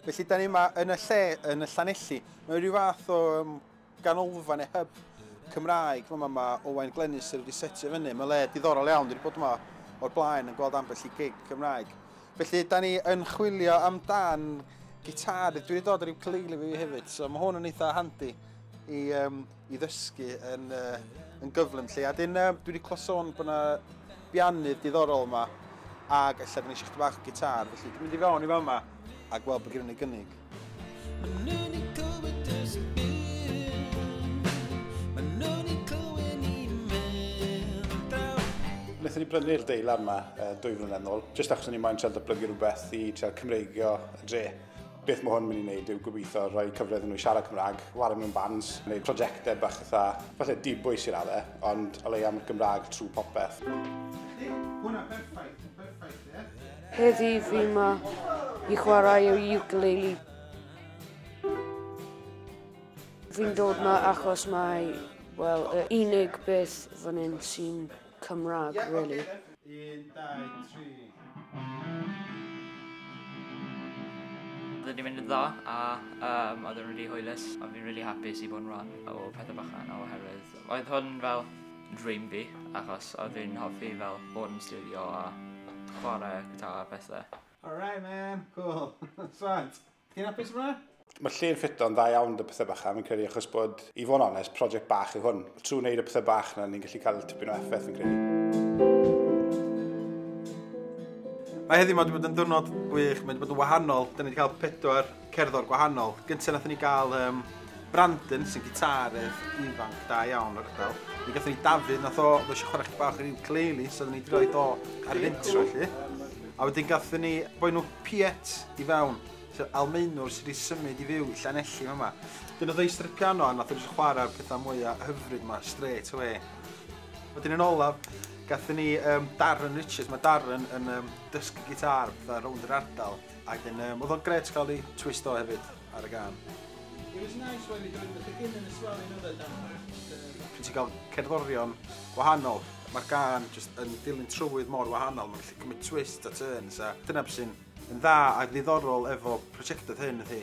Felly, da ni yma yn y lle, yn y Llanelli. Mae rhyw fath o um, ganolfan neu hyb Cymraeg yma mae Owain Glenys wedi setio fyny. Mae le diddorol iawn, wedi bod yma o'r blaen yn gweld ambell i gig Cymraeg. Felly, da ni yn chwilio amdan gitar, dwi wedi dod ar rhyw cyleili fi hefyd, so mae hwn yn eitha handi i um, i ddysgu yn, uh, yn gyflym lle. A dyn, uh, dwi wedi clywed sôn bod yna biannydd diddorol yma, ac efallai dyn eisiau chdi bach o gitar, felly dwi'n mynd i fewn i fama a gweld bod gen i gynnig. Wnaethon ni brynu'r deila yma uh, dwy flynedd nôl, jyst achos o'n i'n moyn cael datblygu rhywbeth i cael Cymreigio y dre. beth mae hwn yn mynd i wneud yw gobeithio rhoi cyfle iddyn nhw siarad Cymraeg, wario mewn bands, neu prosiectau bach eitha, falle dibwys i'r adde, ond o leia mae'r Gymraeg trwy popeth. Hwna, perffaith, perffaith, ie? Heddi fi yma i chwarae o ukulele. Fi'n dod yma achos mae, wel, y unig beth fan hyn sy'n Cymraeg really. Un, dau, tri. Oedden ni'n mynd yn dda a um, oedden nhw'n rili hwylus a fi'n rili hapus i fod yn rhan o pethau bach yna oherwydd oedd hwn fel dream fi achos oedd fi'n hoffi fel bod yn studio a chwarae gyda a bethau. Alright man, cool. Swat! Ti'n hapus yma? Mae'r lle'n ffito'n dda iawn dy pethau bach a fi'n credu achos bod, i fod yn onest, prosiect bach yw hwn. Trwy wneud y pethau bach na ni'n gallu cael tipyn o effaith fi'n credu. Mae heddiw ma wedi bod yn dwrnod gwych, mae wedi bod yn wahanol. Da ni wedi cael pedwar cerddor gwahanol. Gyntaf nath ni gael um, Brandon sy'n gitarydd ifanc da iawn o'r ardal. Mi gathon ni Dafydd nath o, fe eisiau chwarae chdi bach o'r ukulele, so da ni wedi rhoi do ar yr intro lli. A wedyn gathen ni boi nhw Piet i fewn, sef Almaenwr sydd wedi symud i fyw i Llanelli yn yma. Dyn oedd ei strip piano a nath edrych chwarae'r pethau mwyaf hyfryd yma, straight away. Wedyn yn olaf, gathen ni um, Darren Richards, mae Darren yn um, dysgu gitar pethau rownd yr ardal, a wedyn um, oedd o'n gret cael ei twist o hefyd ar y gan. It was nice when we doing the beginning as well, you know that Dan. Pryd ti'n cael cerddorion gwahanol, mae'r gan just yn dilyn trywydd mor wahanol, mae'n Mae twist a turns a dyna beth sy'n yn dda a ddiddorol efo prosiectau hyn ydy.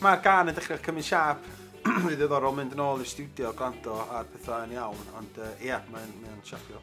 Mae'r gan yn dechrau cymryd siap, rhy ddiddorol mynd yn ôl i'r studio, gwrando ar pethau yn iawn, ond ie, uh, yeah, mae'n mae siapio.